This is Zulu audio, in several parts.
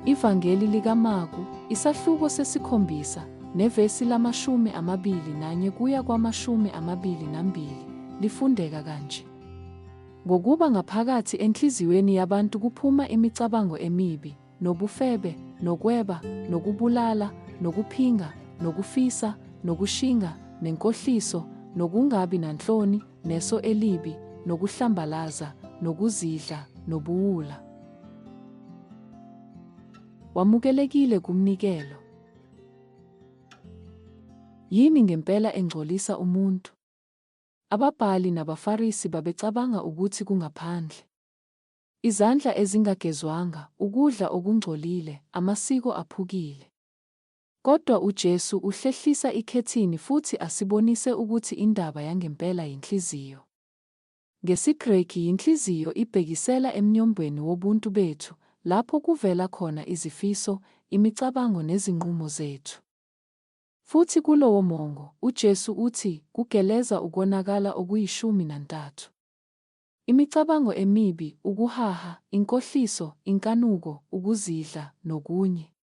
Ivangeli likaMaku, isahluko sesikhombisa, nevesi lamashumi amabili nanye kuya kwamashumi amabili nambili, lifundeka kanje. Ngokuba ngaphakathi enhliziyweni yabantu kuphuma imicabango emibi, nobufebe, nokweba, nokubulala, nokuphinga, nokufisa, nokushinga, nenkohliso, nokungabi nanhloni, neso elibi, nokuhlambalaza, nokuzidla, nobuwula. Wamukelekile kumnikelo. Yini ngempela engcolisa umuntu? Ababhali nabaFarisi babecabanga ukuthi kungaphandle. Izandla ezingagezwanga, ukudla okungcolile, amasiko aphukile. Kodwa uJesu uhlehlisa ikhethini futhi asibonise ukuthi indaba yangempela yinhliziyo. NgesiGreki yinhliziyo ibhekisela emnyombweni wobuntu bethu, lapho kuvela khona izifiso, imicabango nezinqumo zethu. Futhi kulowomongo, uJesu uthi, kugeleza ukonakala okuyishumi nantathu. Imicabango emibi, ukuhaha, inkohliso, inkanuko, ukuzidla, nokunye.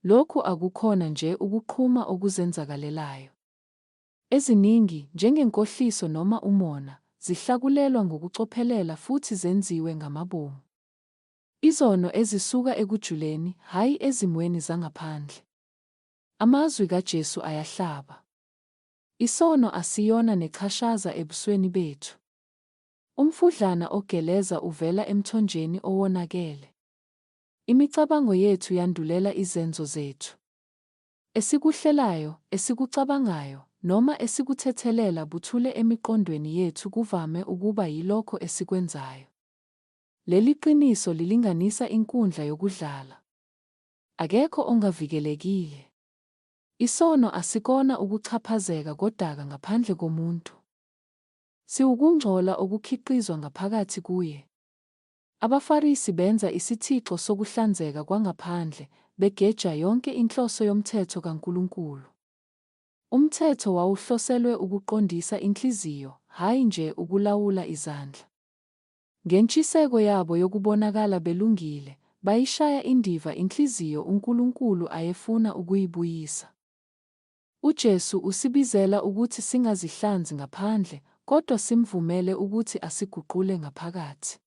Lokhu akukhona nje ukuqhuma okuzenzakalelayo. Eziningi, njengenkohliso noma umona, zihlakulelwa ngokucophelela futhi zenziwe ngamabomu. Izono ezisuka ekujuleni, hhayi ezimweni zangaphandle. Amazwi kaJesu ayahlaba. Isono asiyona nechashaza ebusweni bethu. Umfudlana ogeleza uvela emthonjeni owonakele. Imicabango yethu yandulela izenzo zethu. Esikuhlelayo, esikucabangayo, noma esikuthethelela buthule emiqondweni yethu kuvame ukuba yilokho esikwenzayo. Leli qiniso lilinganisa inkundla yokudlala. Akekho ongavikelekile. Isono asikona ukuxhaphazeka kodaka ngaphandle komuntu. Siwukungcola okukhiqizwa ngaphakathi kuye. AbaFarisi benza isithixo sokuhlanzeka kwangaphandle, begeja yonke inhloso yomthetho kaNkulunkulu. Umthetho wawuhloselwe ukuqondisa inhliziyo, hhayi nje ukulawula izandla. Ngentshiseko yabo yokubonakala belungile, bayishaya indiva inhliziyo uNkulunkulu ayefuna ukuyibuyisa. UJesu usibizela ukuthi singazihlanzi ngaphandle, kodwa simvumele ukuthi asiguqule ngaphakathi.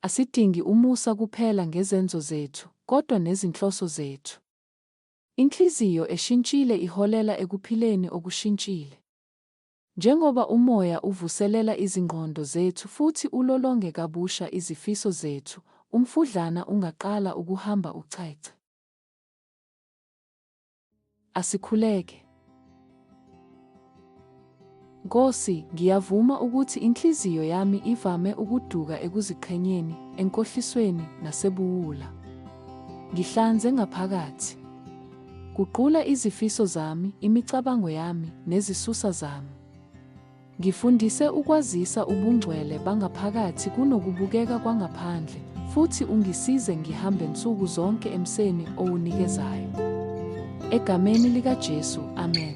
Asidingi umusa kuphela ngezenzo zethu, kodwa nezinhloso zethu. Inhliziyo eshintshile iholela ekuphileni okushintshile. Njengoba uMoya uvuselela izingqondo zethu futhi ulolonge kabusha izifiso zethu, umfudlana ungaqala ukuhamba ucece. Asikhuleke. Nkosi, ngiyavuma ukuthi inhliziyo yami ivame ukuduka ekuziqhenyeni, enkohlisweni, nasebuwula. Ngihlanze ngaphakathi. Guqula izifiso zami, imicabango yami, nezisusa zami. Ngifundise ukwazisa ubungcwele bangaphakathi kunokubukeka kwangaphandle, futhi ungisize ngihambe nsuku zonke emseni owunikezayo. Egameni likaJesu, amen.